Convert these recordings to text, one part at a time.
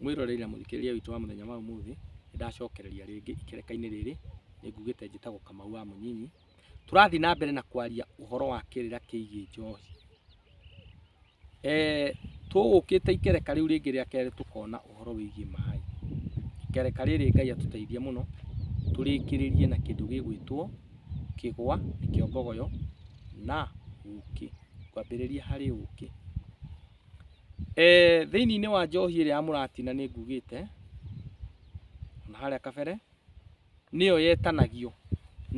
Mwĩroreri na mũthikĩrĩria witũ wa mũthenya wa ũmũthĩ, nĩndacokereria rĩngĩ ikereka-inĩ rĩrĩ, nĩngugĩte njĩtagwo Kamau wa Mũnyinyi. Tũrathiĩ na mbere na kwaria ũhoro wa kĩrĩra kĩgiĩ njohi. Tũgũkĩte ikereka rĩu rĩngĩ rĩa kerĩ tũkona ũhoro wĩgiĩ maĩ. Ikereka rĩrĩ Ngai atũteithie mũno, tũrĩkĩrĩrie na kĩndũ gĩgwĩtwo kĩgwa, nĩkĩo mbogoyo, na ũkĩ. Ngwambĩrĩria harĩ ũkĩ. Eh, thĩinĩ wa njohi ĩrĩa ya mũratina nĩ ngugĩte na harĩa kabere nĩyo yetanagio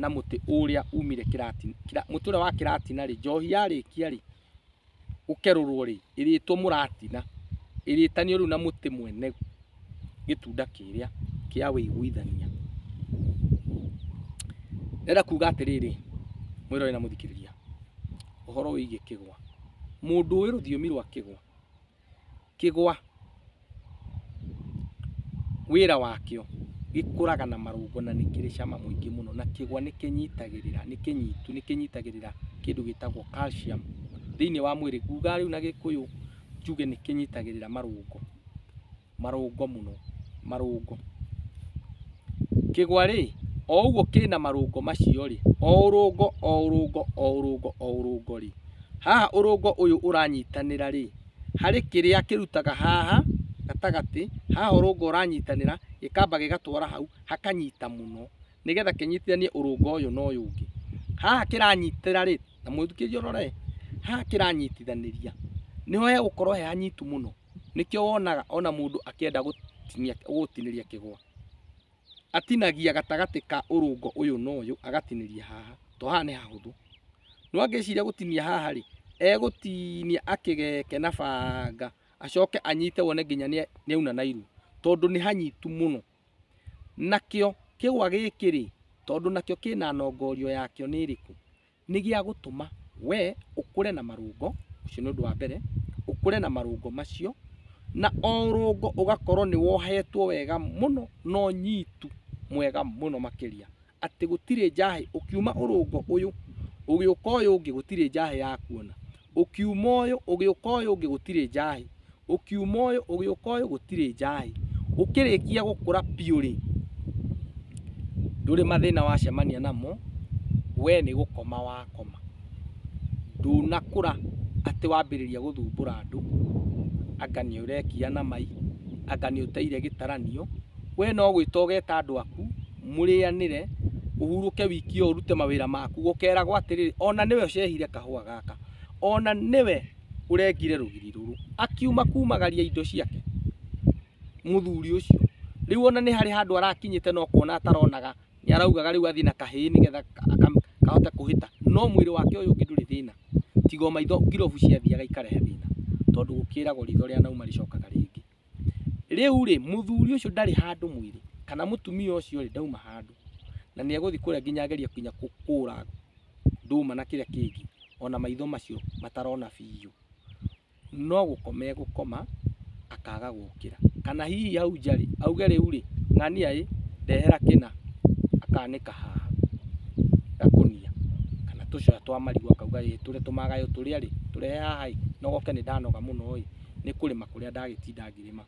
na mũtĩ ũrĩa umire kĩratina kĩra, mũtĩ ũrĩa wa kĩratina rĩ njohi yarĩkia rĩ gũkerũrwo rĩ ĩrĩtwo mũratina ĩrĩtanio rĩu na mũtĩ mwene gĩtunda kĩrĩa kĩa wĩiguithania. Ndĩrenda kuga atĩrĩrĩ, mwĩroreri na mũthikĩrĩria, ũhoro wĩgiĩ kĩgwa. Mũndũ ũĩ rũthiomi rwa kĩgwa, kĩgwa wĩra wakĩo gĩkũraga na marũngo na nĩ kĩrĩ cama mũingĩ mũno, na kĩgwa nĩ kĩnyitagĩrĩra, nĩ kĩnyitu, nĩ kĩnyitagĩrĩra kĩndũ gĩtagwo calcium thĩiniĩ wa mwĩrĩ. Nguga rĩu na gĩkũyũ njuge nĩ kĩnyitagĩrĩra marũngo. marũngo mũno, marũngo. Kĩgwa rĩ, o ũguo kĩna marũngo macio rĩ, o ũrũngo o ũrũngo o ũrũngo o ũrũngo rĩ, haha ũrũngo ũyũ ũranyitanĩra rĩ, harĩ kĩrĩa kĩrutaga haha gatagatĩ, haha ũrũngo ũranyitanĩra, gĩkamba gĩgatwara hau, hakanyita mũno. nĩgetha kĩnyitithanie ũrũnga ũyũ na ũyũ ũngĩ. Haha kĩranyitĩra rĩ, na mũthikĩrĩria ũrore, haha kĩranyitithanĩria nĩho hegũkorwo he hanyitu mũno, nĩkĩo wonaga ona mũndũ akĩenda gũtinia gũgũtinĩria kĩgwa, atinagia gatagatĩ ka ũrũnga ũyũ na ũyũ agatinĩria haha, to haha nĩ hahũthũ. No angĩciria gũtinia haha rĩ, egũtinia akĩgeke na banga, acoke anyite wone nginya nĩauna na iru, tondũ nĩ hanyitu mũno. Nakĩo kĩgwa gĩkĩ-rĩ, tondũ nakĩo kĩna nongorio yakĩo nĩ ĩrĩkũ? Nĩ gĩa gũtũma we ũkũre na marũngo, ũcio nĩ ũndũ wa mbere, ũkũre na marũngo macio, na o rũngo ũgakorwo nĩ wohetwo wega mũno na ũnyitu mwega mũno makĩria. atĩ gũtirĩ njahĩ ũkiuma ũrũngo ũyũ ũgĩũka ũyũ ũngĩ gũtirĩ njahĩ ya kuona ũkiuma ũyũ ũgĩũka ũyũ ũngĩ gũtirĩ njahĩ ũkiuma ũyũ ũgĩũka ũyũ gũtirĩ njahĩ ũkĩrĩkia gũkũra biũ rĩ ndũrĩ mathĩna wacemania namo we nĩ gũkoma wakoma ndũnakũra atĩ wambĩrĩria gũthumbũra andũ anga nĩ ũrekia na mai anga nĩ ũteire gĩtaranio we no gwĩta ũgeta andũ aku. mũrĩanĩre, ũhurũke wiki ĩyo ũrute mawĩra maku, gũkeragwo atĩrĩrĩ, ona nĩwe ũcehire kahũa gaka, ona nĩwe ũrengire rũgiri rũrũ, akiuma kumagaria indo ciake mũthuri ũcio, rĩu ona nĩ harĩ handũ arakinyĩte no kuona ataronaga, nĩ araugaga rĩu athiĩ na kahĩĩ nĩgetha kahote kũhĩta, no mwĩrĩ wake ũyũ ũngĩ ndũrĩ thĩna, tiga o maitho ngirobu ciathiaga ikarehe thĩna, tondũ gũkĩragwo riitho rĩanauma rĩcokaga rĩngĩ. Rĩu-rĩ, mũthuri ũcio ndarĩ handũ mwĩrĩ, kana mũtumia ũcio-rĩ, ndauma handũ. Na nĩ egũthiĩ kũrĩa nginya agerie nginya kũũra ndũma na kĩrĩa kĩngĩ, o na maitho macio matarona biũ. No gũkoma egũkoma, akaga gũkĩra. Kana hihi hau nja-rĩ, auge rĩu-rĩ, ng'ania ĩ, ndehera kĩna. Akanĩka haha gakũnia, kana tũcũra twa marigũ akauga ĩ, tũrĩa tũmagaĩũ tũrĩa-rĩ, tũrehe haha-ĩ, nogoke nĩ ndanoga mũno-ĩ. nĩ kũrĩma kũrĩa ndagĩtinda ngĩrĩma.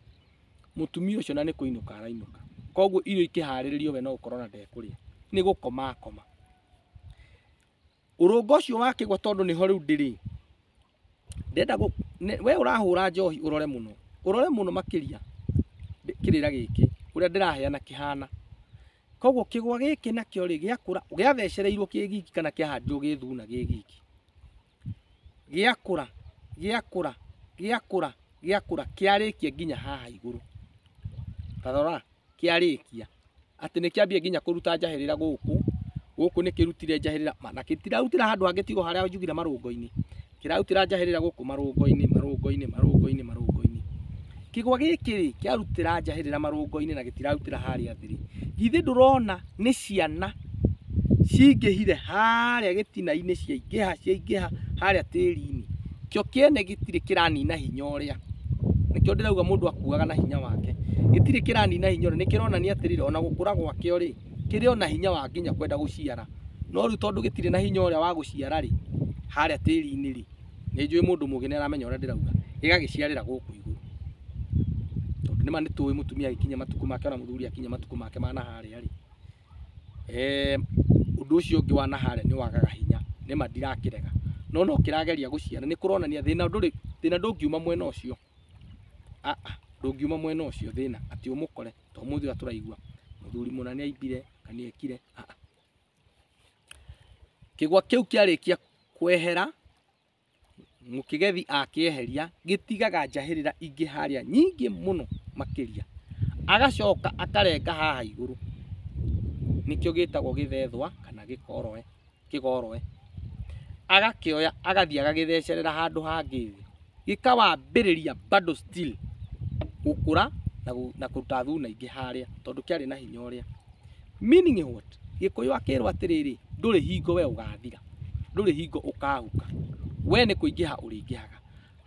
Mũtumia ũcio na nĩ kũinũka arainũka. Koguo irio ikĩharĩrĩrio we no gũkorwo na ndekũrĩa. Nĩ gũkoma akoma. Ũrũnga ũcio wakĩgwa tondũ nĩho rĩu ndĩrĩ, ndenda gũ, nĩ- we ũrahũra njohi ũrore mũno, ũrore mũno makĩria ndĩ- kĩrĩra gĩkĩ ũrĩa ndĩraheana kĩhana. Koguo kĩgwa gĩkĩ nakĩo rĩ, gĩakũra, gĩathecereirwo kĩ giki kana kĩahandirwo gĩ thuna gĩ giki. gĩakũra gĩakũra gĩakũra gĩakũra kĩarĩkia nginya haha igũrũ tarora kĩarĩkia atĩ nĩ kĩambia nginya kũruta njahĩrĩra gũkũ gũkũ nĩ kĩrutire njahĩrĩra ma- na gĩtirarutĩra handũ hangĩ tigo harĩa njugire marũngo-inĩ kĩrarutĩra njahĩrĩra gũkũ marũngo-inĩ marũngo-inĩ marũngo-inĩ marũngo-inĩ kĩgwa gĩkĩ rĩ kĩarutĩra njahĩrĩra marũngo-inĩ na gĩtirarutĩra harĩa thĩ rĩ githĩ ndũrona nĩ ciana cingĩhire harĩa gĩtina-inĩ ciaingĩha ciaingĩha harĩa tĩri-inĩ, kĩo kĩene gĩtirĩ kĩranina hinya ũrĩa, nĩkĩo ndĩrauga mũndũ akuaga na hinya wake, gĩtirĩ kĩranina hinya ũrĩa, nĩkĩronania atĩrĩrĩ ona gũkũra gwakĩo rĩ, kĩrĩ ona hinya wa nginya kwenda gũciara, no rĩu tondũ gĩtirĩ na hinya ũrĩa wa gũciara rĩ, harĩa tĩri-inĩ rĩ. nĩ njũĩ mũndũ mũgĩ nĩ aramenya ũrĩa ndĩrauga ĩgagĩciarĩra gũkũ igũrũ tondũ nĩma nĩ tũĩ mũtumia agĩkinya matukũ make ona mũthuri akinya matukũ make ma naharĩa rĩ eh, ũndũ ũcio ũngĩ wa naharĩa nĩ wagaga hinya nĩma ndirakĩrega no no kĩrageria gũciara nĩ kũronania thĩna ndũrĩ thĩna ndũngiuma mwena ũcio Ah, ah, ndũngiuma mwena ũcio thĩna atĩ ũmũkore to mũthĩ ũrĩa tũraigua mũthuri mũna nĩ aimbire na nĩ ekire Ah, ah. Kĩgwa kĩu kĩarĩkia kwehera, mũkĩgethi akĩeheria, gĩtigaga njahĩrĩra ingĩ harĩa nyingĩ mũno makĩria. Agacoka akarenga haha igũrũ, nĩkĩo gĩtagwo gĩthethwa kana gĩkoroe, kĩgoroe. Agakĩoya agathiĩ agagĩthecerera handũ hangĩ thĩ. gĩkawambĩrĩria bado still gũkũra na, gũ, na kũruta thuna ingĩ harĩa tondũ kĩarĩ na hinya ũrĩa meaning what gĩkũyũ akĩrwo atĩrĩrĩ ndũrĩ hingo we ũgathira ndũrĩ hingo ũkahuka we nĩ kũingĩha ũrĩingĩhaga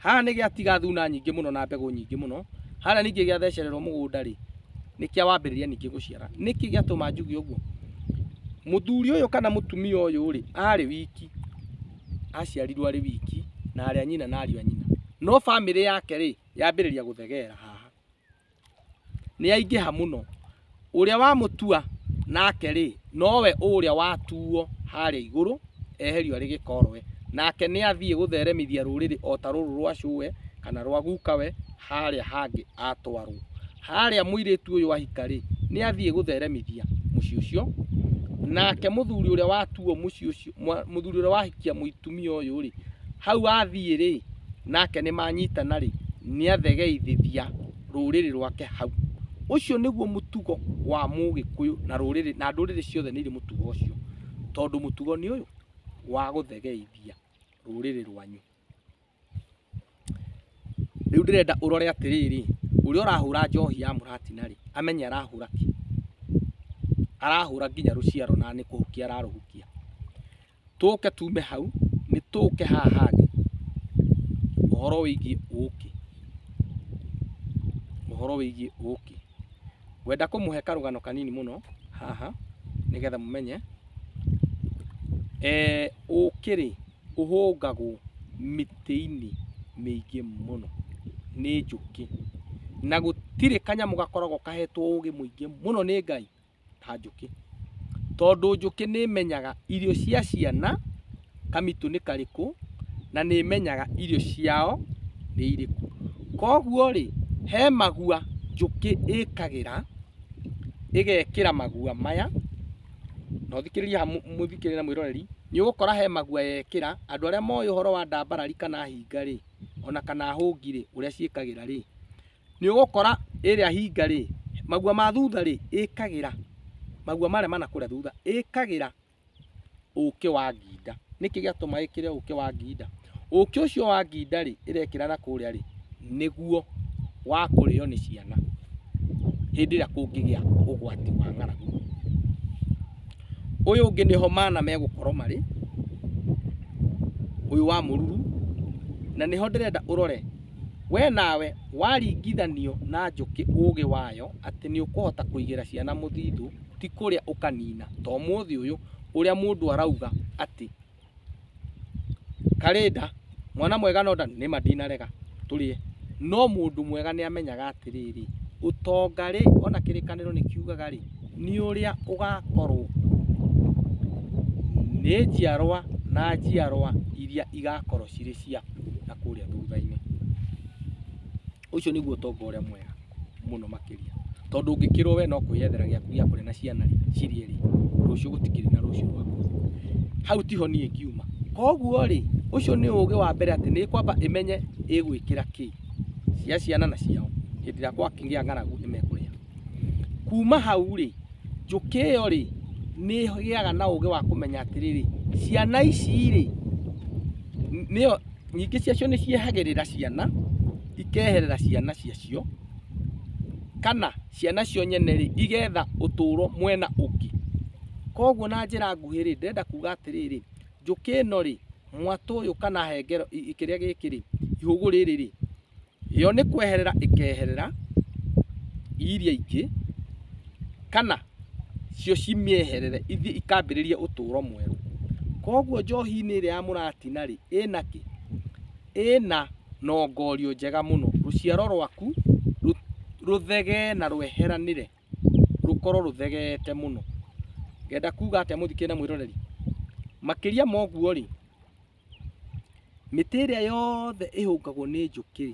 haha nĩ gĩatiga thuna nyingĩ mũno na mbegũ nyingĩ mũno harĩa ningĩ gĩathecererwo mũgũnda rĩ nĩkĩa wambĩrĩria ningĩ gũciara nĩkĩ gĩatũma njuge ũguo mũthuri ũyũ kana mũtumia ũyũ rĩ arĩ wiki aciarirwo arĩ wiki na arĩa nyina na ariũ a nyina no bamĩrĩ yake rĩ yambĩrĩria gũthegera haha nĩ yaingĩha mũno ũrĩa wamũtua nake rĩ nowe ũrĩa watuo harĩa igũrũ eherio arĩ gĩkoroe nake nĩ athiĩ gũtheremithia rũrĩrĩ o ta rũrũ rwa cũwe kana rwa gukawe harĩa hangĩ atwarwo harĩa mũirĩtu ũyũ ahika rĩ nĩ athiĩ gũtheremithia mũciĩ ũcio nake mũthuri ũrĩa watuo mũciĩ ũcio mwa- mũthuri ũrĩa wahikia mũtumia ũyũ rĩ hau athiĩ rĩ nake nĩ manyitana rĩ nĩ athegeithithia rũrĩrĩ rwake hau ũcio nĩguo mũtugo wa mũgĩkũyũ na rũrĩrĩ na ndũrĩrĩ ciothe nĩ irĩ mũtugo ũcio tondũ mũtugo nĩ ũyũ wa gũthegeithia rũrĩrĩ rwanyu Rĩu ndĩrenda ũrore atĩrĩrĩ, ũrĩa ũrahũra njohi ya mũratina rĩ, amenye arahũra kĩ? Arahũra nginya rũciaro na nĩ kũhukia ararũhukia. Tũke tume hau, nĩ tũke haha hangĩ, ũhoro wĩgiĩ ũkĩ. Ũhoro wĩgiĩ ũkĩ. Ngwenda kũmũhe karũgano kanini mũno haha, nĩgetha mũmenye. Ũkĩ rĩ, ũhũngagwo mĩtĩ-inĩ mĩingĩ mũno nĩ njũkĩ. Na gũtirĩ kanyamũ gakoragwo kahetwo ũgĩ mũingĩ mũno nĩ Ngai ta njũkĩ. Tondũ njũkĩ nĩ ĩmenyaga irio cia ciana kamitũ nĩ karĩkũ, na nĩ ĩmenyaga irio ciao nĩ irĩkũ. Koguo rĩ, he magua njũkĩ ĩkagĩra, ĩgekĩra magua maya. na ũthikĩrĩrie haha mũ- mũthikĩrĩrie na mwĩroreri nĩ ũgũkora he magua yekĩra andũ arĩa moĩ ũhoro wa ndambarari kana hinga rĩ ona kana hũngi rĩ ũrĩa ciĩkagĩra rĩ nĩ ũgũkora ĩrĩa hinga rĩ magua ma thutha rĩ ĩkagĩra magua marĩa mana kũrĩa thutha ĩkagĩra ũkĩ wa nginda nĩkĩ gĩatũma ĩkĩre ũkĩ wa nginda Ũkĩ ũcio wa nginda-rĩ, ĩrekĩra na kũrĩa-rĩ, nĩguo wa kũrĩo nĩ ciana hĩndĩ ĩrĩa kũngĩgĩa ũgwati wa ng'aragu. Ũyũ ũngĩ nĩho mana megũkorwo marĩ, ũyũ wa mũruru, na nĩho ndĩrenda ũrore, we nawe waringithanio na njũkĩ ũgĩ wayo atĩ nĩũkũhota kũigĩra ciana mũthithũ, ti kũrĩa ũkanina ta ũmũthĩ ũyũ ũrĩa mũndũ arauga atĩ... karĩnda mwana mwega no nda nĩma ndinarega tũrĩe no mũndũ mwega nĩ amenyaga atĩrĩrĩ ũtonga rĩ ona kĩrĩkanĩro nĩ kiugaga rĩ nĩ ũrĩa ũgakorwo nĩ njiarwa na njiarwa iria igakorwo cirĩ ciaku na kũrĩa thutha-inĩ. Ũcio nĩguo ũtonga ũrĩa mwega mũno makĩria, tondũ ũngĩkĩrwo we no kwĩyethera gĩaku gĩa kũrĩa na ciana rĩ, cirĩe rĩ, rũciũ gũtikĩrĩ na rũciũ rwaku. Hau tiho niĩ ngiuma. Koguo rĩ, ũcio nĩ ũgĩ wa mbere atĩ nĩ kwamba ĩmenye ĩgwĩkĩra kĩ, cia ciana na ciao, hĩndĩ ĩrĩa gwakĩgĩa ng'aragu nĩ mekũrĩa. Kuma hau rĩ. njũkĩ ĩyo rĩ, nĩ ĩgĩaga na ũgĩ wa kũmenya atĩrĩrĩ, ciana ici rĩ, nĩyo, nyingĩ ciacio nĩ ciehagĩrĩra ciana, ikeherera ciana ciacio, kana ciana cio nyene rĩ, igetha ũtũũro mwena ũngĩ. Koguo na njĩra nguhĩ rĩ, ndĩrenda kuuga atĩrĩrĩ, njũkĩ ĩno rĩ, mwatũ ũyũ kana hengere, kĩrĩa gĩkĩ rĩ, ihũgũ rĩrĩ rĩ, Yo nĩ kweherera ĩkeherera iria ingĩ, kana cio cimĩeherere ithiĩ ikambĩrĩrie ũtũũro mwerũ. Koguo njohi-inĩ ĩrĩa ya mũratina rĩ, ĩna kĩ? Ĩna nongorio njega mũno. Rũciaro rwaku rũthegee na rweheranĩre, rũkorwo rũthegeete mũno. Ngenda kuuga atĩa mũthikĩrĩria na mwĩroreri? Makĩria ma ũguo rĩ, Mĩtĩ ĩrĩa yothe ĩhũngagwo nĩ njũkĩ,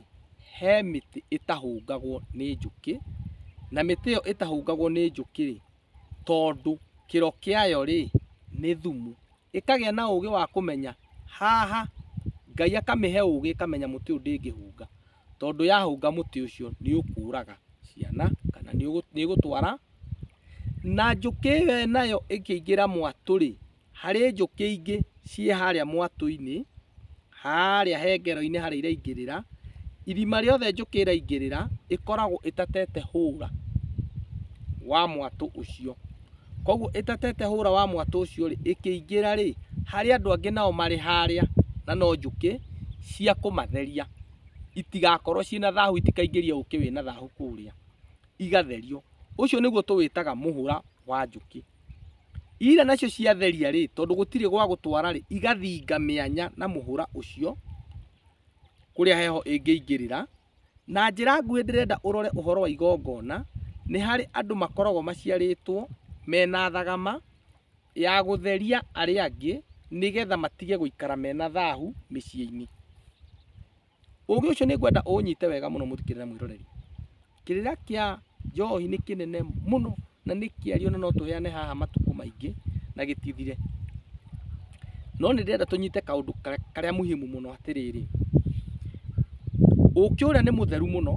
he mĩtĩ ĩtahũngagwo nĩ njũkĩ, na mĩtĩ ĩyo ĩtahũngagwo nĩ njũkĩ rĩ, tondũ kĩro kĩayo rĩ, nĩ thumu, ĩkagĩa na ũgĩ wa kũmenya haha, Ngai akamĩhe ũgĩ ĩkamenya mũtĩ ũyũ ndĩngĩhũnga, tondũ yahũnga mũtĩ ũcio nĩ ũkũraga ciana, kana nĩ ũgũtwara, na njũkĩ ĩyo nayo ĩkĩingĩra mwatũ rĩ, Harĩ njũkĩ ingĩ ciĩ harĩa mwatũ-inĩ, harĩa hengero-inĩ harĩa iraingĩrĩra, irima rĩothe njũkĩ ĩraingĩrĩra, ĩkoragwo ĩtatete hũra wa mwatũ ũcio. Koguo ĩtatete hũra wa mwatũ ũcio rĩ, ĩkĩingĩra rĩ, harĩ andũ angĩ nao marĩ harĩa na no njũkĩ cia kũmatheria, itigakorwo ciĩna thahu itikaingĩrie ũkĩ wĩna thahu kũrĩa, igatherio. Ũcio nĩguo tũwĩtaga mũhũra wa njũkĩ. Ira nacio ciatheria-rĩ, tondũ gũtirĩ gwa gũtwara-rĩ, igathinga mĩanya na mũhũra ũcio kũrĩa heho ĩngĩingĩrĩra. Na njĩra nguhĩ ndĩrenda ũrore ũhoro wa igongona, nĩ harĩ andũ makoragwo maciarĩtwo mena thagama ya gũtheria arĩa angĩ nĩgetha matige gũikara mena thahu mĩciĩ-inĩ. Ũũgĩ ũcio nĩ ngwenda ũũnyite wega mũno mũthikĩrĩre mwĩroreri. Kĩrĩra kĩa njohi nĩ kĩnene mũno na nĩ kĩario na no tũheane haha matukũ maingĩ na gĩtithire. No nĩ ndĩrenda tũnyite kaũndũ karĩa muhimu mũno atĩrĩrĩ, ũũkĩ ũrĩa nĩ mũtheru mũno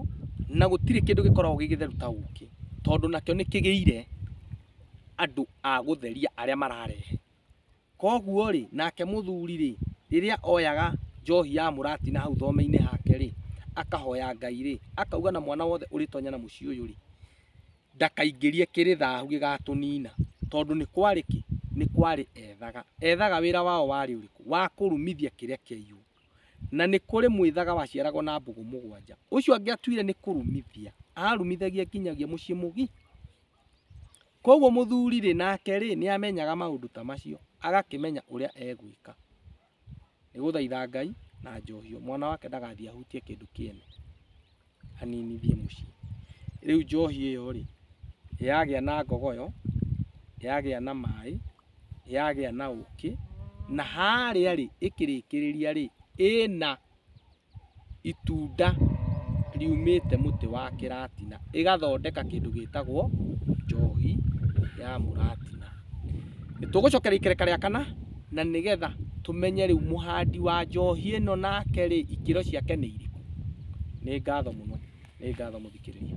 na gũtirĩ kĩndũ gĩkoragwo gĩ gĩtheru ta ũũkĩ tondũ nakĩo nĩ kĩgĩire andũ a gũtheria arĩa mararehe. Kwoguo-rĩ, nake mũthuri-rĩ, rĩrĩa oyaga njohi ya mũrati na hau thome-inĩ hake-rĩ, akahoya Ngai-rĩ, akauga na mwana wothe ũrĩtonya na mũciĩ ũyũ-rĩ, ndakaingĩrie kĩrĩ thahu gĩgatũnina, tondũ nĩ kwarĩ kĩ? Nĩ kwarĩ ethaga. Ethaga wĩra wao warĩ ũrĩkũ? Wa kũrumithia kĩrĩa kĩaiywo. Na nĩ kũrĩ mwĩthaga waciaragwo na mbũgũ mũgwanja. Ũcio angĩatuire nĩ kũrumithia, aarumithagia nginyagia mũciĩ mũgi. Koguo mũthuri-rĩ nake rĩ nĩ amenyaga maũndũ ta macio agakĩmenya ũrĩa egwĩka. Nĩ gũthaitha Ngai na njohio mwana wake ndagathiĩ ahutie kĩndũ kĩene aninithie mũciĩ. Rĩu njohi ĩyo-rĩ yagĩa na ngogoyo, yagĩa na maĩ, yagĩa na ũkĩ na harĩa-rĩ ĩkĩrĩkĩrĩria-rĩ ĩna... itunda riumĩte mũtĩ wa kĩratina, ĩgathondeka kĩndũ gĩtagwo njohi ya mũratina. Nĩtũgũcokereria ikereka rĩa kana, na nĩgetha tũmenye rĩu mũhandi wa njohi ĩno nake rĩ, ikĩro ciake nĩ irĩkũ. Nĩ ngatho mũno, nĩ ngatho mũthikĩrĩria.